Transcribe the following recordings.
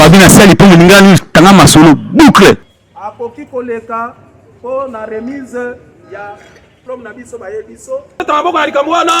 babi na sali mpo moninga nini tanga masolo boucle akoki koleka mpo na remise ya diplome na biso baye biso ta maboko na likambo wana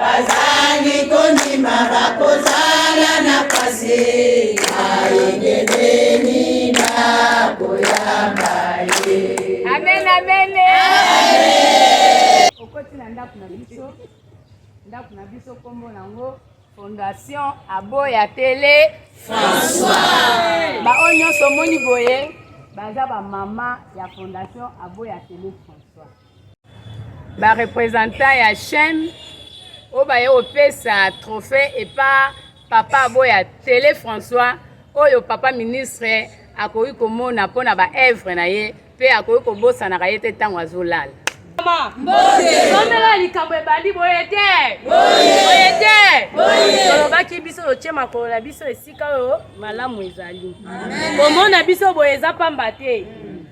Bazangi kondima bakozala na pasi ayengebeni bakoyamba ye. Amen, amen. Okoti na ndako na biso, ndako na biso nkombo nango fondation aboya tele françois baoyo nyonso omoni boye baza bamama ya fondation aboya tele françois ba representant ya chaîne oyo baye kopesa trophée epa papa aboya tele françois oyo papa ministre akoki komona mpo na baevre na ye mpe akoki kobosanaka ye te ntango azolala somela likambo ebandi boye te boye te tolobaki biso totye makolo na biso esika oyo malamu ezali komona biso boye eza mpamba te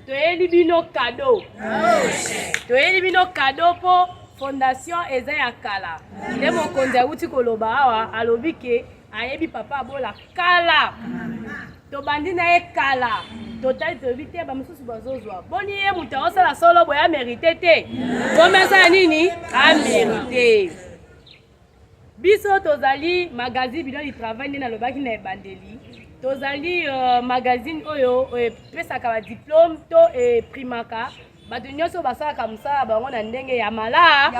toyeli bino kado toyeli bino kado mpo fondation eza ya kala nde mokonzi awuti koloba awa alobi ke ayebi papa abola kala tobandi na ye kala totali toyebi te bamosusu bazozwa boni ye moto aosala solo boye amerite te bomesala nini amerite Biso tozali magazine Bidon du Travail nde nalobaki na ebandeli. Tozali uh, magazine oyo epesaka ba diplome to eprimaka bato nyonso basalaka mosala bango na ndenge ya malamu.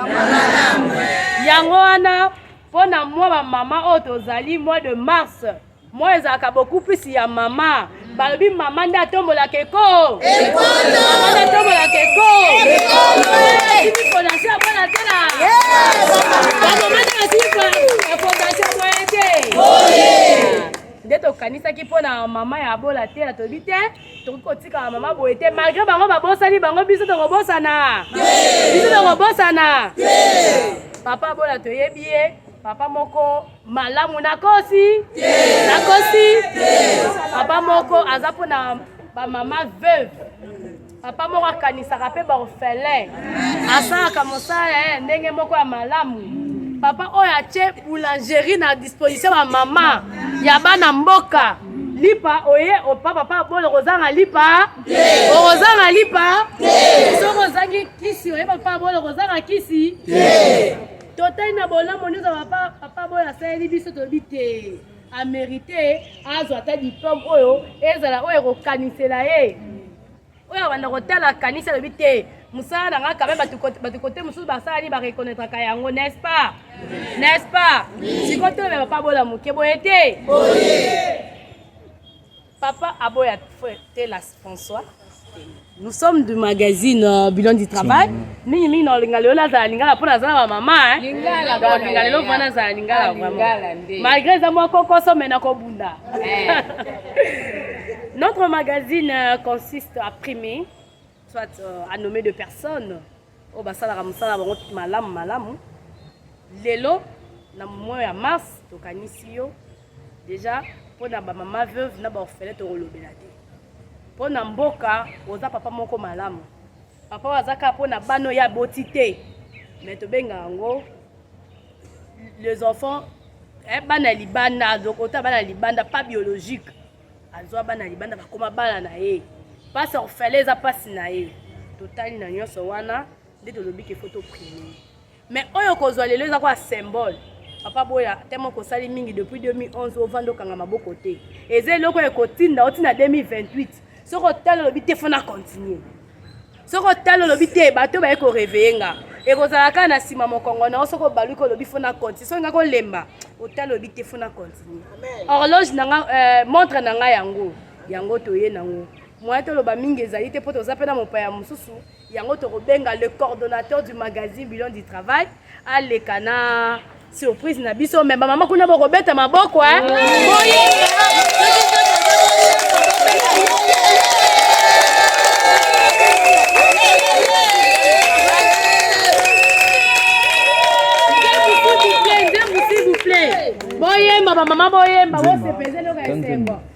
Yango wana mpo na mwa bamama oyo tozali mois de mars moi ezalaka beaucoup plus ya mama balobi mama nde atombolaka eko mama nde atombolaka eko fondation ya bana te na bamama nde basili fondation boye te nde tokanisaki mpo na mama ya bola te na toyebi te tokoki kotikala mama boye te malgre bango babosani bango biso tokobosana biso tokobosana papa bola toyebi ye papa moko malamu nakosi nakosi papa moko aza mpo na bamama veuve papa moko akanisaka mpe baorphelin asalaka mosala ya eh, ndenge moko ya malamu papa oyo atye boulangerie na disposition ya mama ya bana mboka lipa oye opa papa bolo kozanga lipa okozanga lipa soki ozangi kisi oyeba papa bolo kozanga kisi Totai na bolamu nyoso papa papa boyo asaleli biso tolobi te amerite azwa ata diplome oyo ezala oyo ekokanisela ye oyo abanda kotala kanisa alobi te mosala na ngai kame bato kote mosusu basala nini bareconnaitraka yango n'est-ce pas n'est-ce pas sikoyo tolobela papa bola moke boye te Papa aboya te la François. Nous sommes du magazine euh, Bilan du Travail. Mingi mingi na olinga lelo azala lingala mpo nazala ba mama olinga lelo mwana azala lingala ah, vraiment. Malgré eza mwa kokoso me nakobunda. Eh. Notre magazine euh, consiste à primer, soit euh, à nommer deux personnes. oyo basalaka mosala na bango malamu malamu lelo na mois ya mars tokanisi yo deja mpo na bamama veuve na baorfele tokolobela te mpo na mboka oza papa moko malamu papa oyo aza kaka mpo na bana oyo aboti te me tobenga yango les enfants eh, bana ya libanda ota bana ya libanda pas biologique azwa bana libanda bakoma bana na ye mpasi ya kofele eza mpasi na ye totali na nyonso wana nde tolobi ke fo toprime mais oyo kozwa lelo eza kwa symbole papa boya temo kosali mingi depuis 2011 ovanda okanga maboko te eza eloko ekotinda otina 2028 soki otali olobi te fona continue soki otali olobi te bato baye koreveye nga ekozala kaka na nsima mokongo na yo soki obaluki olobi fo na continue soki nga kolemba otali olobi te fo na continue horloge na nga euh, montre na nga yango yango toye nango moyen toloba mingi ezali te mpo toza mpe na mopaya mosusu yango tokobenga le coordonnateur du magazine bilon du travail aleka na Surprise na biso mais ba mama kuna boko beta maboko hein. Boyemba ba mama boyemba, wose peze loka esengo.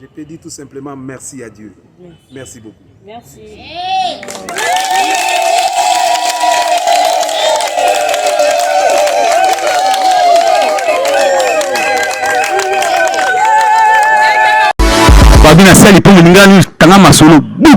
Je te dis tout simplement merci à Dieu. Merci, merci beaucoup. Merci. Hey. Babi na sali mpo moninga nini tanga masolo boucle